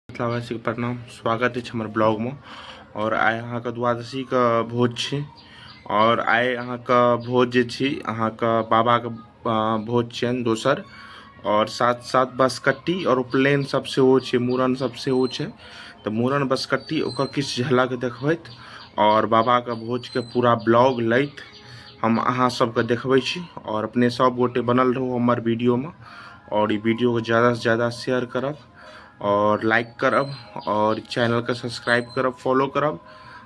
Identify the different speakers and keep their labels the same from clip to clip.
Speaker 1: मिथिलावासीके प्रणाम स्वागत अछि हमर ब्लॉगमे आओर आइ अहाँके द्वादशीके भोज छी आओर आइ अहाँके भोज जे छी अहाँके बाबाके भोज छियनि दोसर आओर साथ साथ बसकट्टी आओर उपनयन सब सेहो छै मूड़न सब सेहो छै तऽ मूड़न बसकट्टी ओकर किछु झलक देखबैत आओर बाबाके भोजके पूरा ब्लॉग लैत हम अहाँ सबके देखबै छी आओर अपने सब गोटे बनल रहू हमर वीडियोमे आओर ई वीडियोके ज्यादासँ ज्यादा शेयर करब आओर लाइक करब आओर चैनलके सब्सक्राइब करब फॉलो करब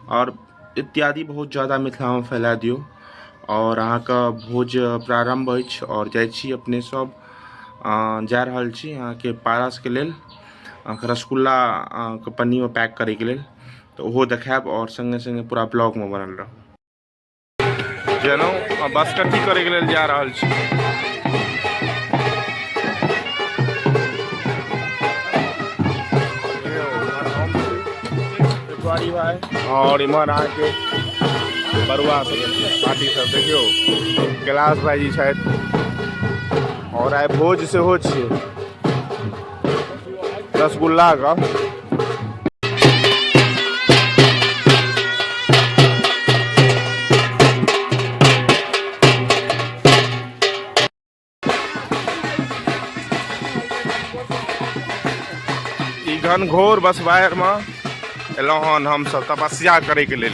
Speaker 1: आओर इत्यादि बहुत ज्यादा मिथिलामे फैला दियौ आओर अहाँके भोज प्रारम्भ अछि आओर जाइ छी अपने सब जा रहल छी अहाँके पारसके लेल अहाँके रसगुल्ला अहाँके पन्नीमे पैक करैके लेल तऽ ओहो देखायब आओर सङ्गे सङ्गे पूरा ब्लॉगमे बनल रहब जनौ आ बाँसकट्टी करैके लेल जा रहल छी आओर इम्हर अहाँके बरुआ सब पार्टी सब देखियौ कैलाश भाईजी छथि आओर आइ भोज सेहो छियै रसगुल्ला का घनघोर बसवायर में एलहुँ हन हमसभ तपस्या करैके लेल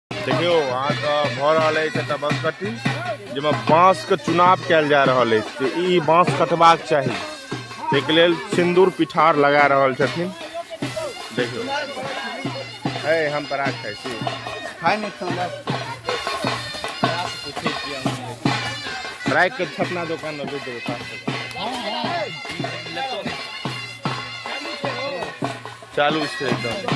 Speaker 1: देखियौ अहाँके भऽ रहल अछि एकटा बाँस कट्टी जाहिमे बाँसके चुनाव कयल जा रहल अछि जे ई बाँस कटबाक चाही ताहिके लेल सिन्दूर पिठार लगा रहल छथिन देखियौ है हम पराग खाइ छी खाइ नहि खाउ पराग के छपना दोकान में बेच देबै पाँच सौ का। चालू छै एकदम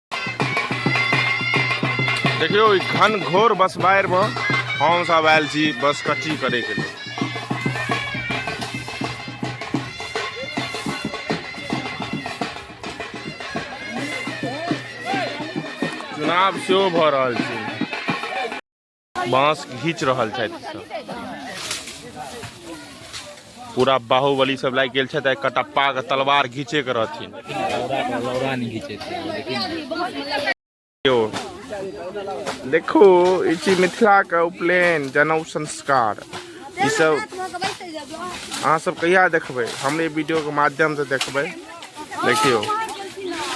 Speaker 1: देखियौ ई घन घोर बस बाढ़िमे हमसभ आयल छी बस कच्ची करैके लेल चुनाव सेहो भऽ रहल छै बांस घीच रहल छथि ई सब पूरा बाहुबली सब लागि गेल छथि आ कटप्पा के तलवार घीचे के रहथिन यो, देखू ई छी मिथिला के उपनयन जनउ संस्कार ई सब अहाँ सब कहिया देखबै हमरे वीडियो के माध्यम से देखबै देखियो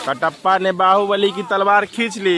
Speaker 1: कटप्पा ने बाहुबली की तलवार खींच ली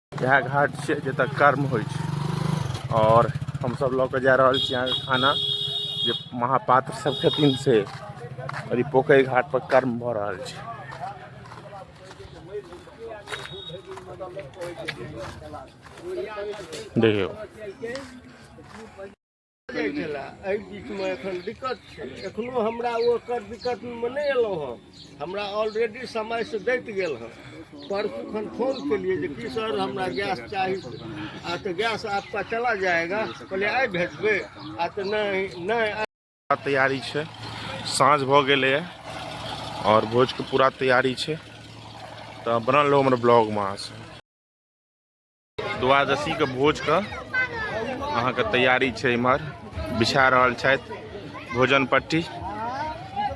Speaker 1: इएह घाट छियै जतऽ कर्म होइ छै आओर हमसभ लऽ कऽ जा रहल छी अहाँके खाना जे महापात्र सभ छथिन से आओर ई पोखरि घाटपर कर्म भऽ रहल छै देखियौ जाइ छलए एहि बीचमे एखन दिक्कत छै एखनो हमरा ओकर दिक्कतमे नहि एलहुँ हँ हमरा ऑलरेडी समयसँ दैत गेल हँ परसू खन फोन केलिए जे कि सर हमरा गैस चाही आ तऽ गैस आपका चला जाएगा कहलिए आइ भेजबै आ तऽ नहि नहि तैयारी छै साँझ भऽ गेलैए आओर भोजके पूरा तैयारी छै तऽ बनल रहू हमर ब्लॉगमे अहाँसँ द्वादशीके भोजके अहाँके तैयारी छै इम्हर बिछा रहल छथि भोजन पट्टी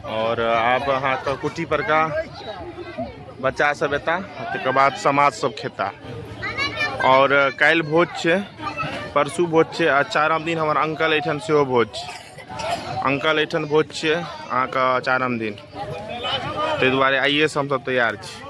Speaker 1: आओर आब अहाँके कुटी परका बच्चा सब एता तकर बाद समाज सब खेता आओर काल्हि भोज छै परसू भोज छै आ चारम दिन हमर अंकल एहिठाम सेहो भोज छै अंकल एहिठाम भोज छै अहाँके चारम दिन ताहि दुआरे आइएसँ हमसभ तैयार छी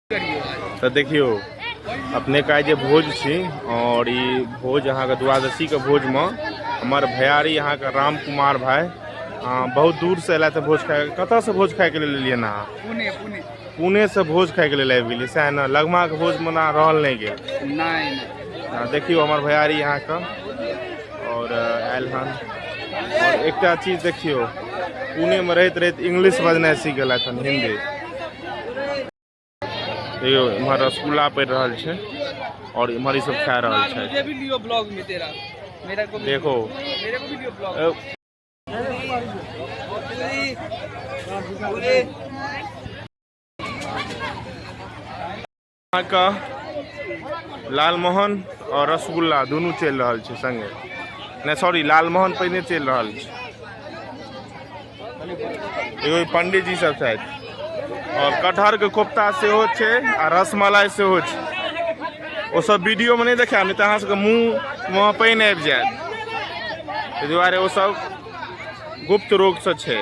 Speaker 1: तऽ देखियौ अपने का जे भोज छी और ई भोज अहाँके द्वादशी के भोज में हमर भैयारी अहाँके राम कुमार भाई अहाँ बहुत दूर से अयला तऽ भोज खाय कतऽ से भोज खाय के लेल एलियै ने अहाँ पुणे पुणे पुणे से भोज खाय के लेल आबि गेलियै सएह ने लगमा के भोज मना रहल नहि गेल नहि नहि आ, देखियौ हमर भैयारी अहाँके और आयल हन और एकटा चीज देखियौ पुणे में रहैत रहैत इंग्लिश बजनाइ सीख गेलथि हन हिंदी यौ इम्हर रसगुल्ला पड़ि रहल छै और इम्हर ई सब खा रहल छै देखो अहाँके लालमोहन आओर रसगुल्ला दुनू चलि रहल छै सङ्गे नहि सॉरी लालमोहन पहिने चलि रहल छै एगो पंडीजी सब छथि आओर कटहरके कोफ्ता सेहो छै आ रसमलाई सेहो छै ओसब वीडियोमे नहि देखायब नहि तऽ अहाँसभके मुँहमे पानि आबि जायत ताहि दुआरे ओसब गुप्त रोगसँ छै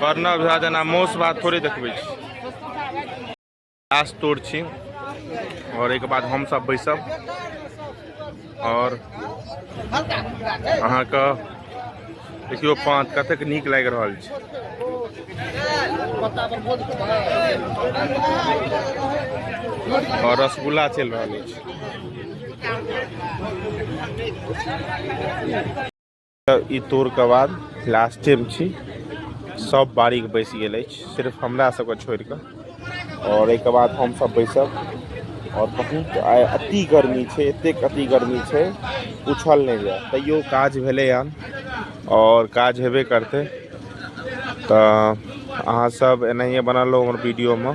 Speaker 1: बर्नर भए जेना मौस भात थोड़े देखबै छी लास्ट तोड़ छी आओर एहिके बाद हमसभ बैसब आओर अहाँके देखियौ पाँच कतेक नीक लागि रहल छै आओर रसगुल्ला चलि रहल अछि तऽ ई तोर के बाद लास्टे मे छी सब बारीक बैस गेल अछि सिर्फ हमरा सबके छोड़ि कऽ आओर एहिके बाद हमसभ बैसब आओर बहुत आइ अति गर्मी छै एतेक अति गर्मी छै उछल नहि जाय तैयो काज भेलै हन आओर काज हेबे करतै तऽ अहाँसभ एनाहिए बनल रहू हमर वीडियोमे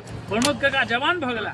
Speaker 1: प्रमोद काका जवान भऽ गेला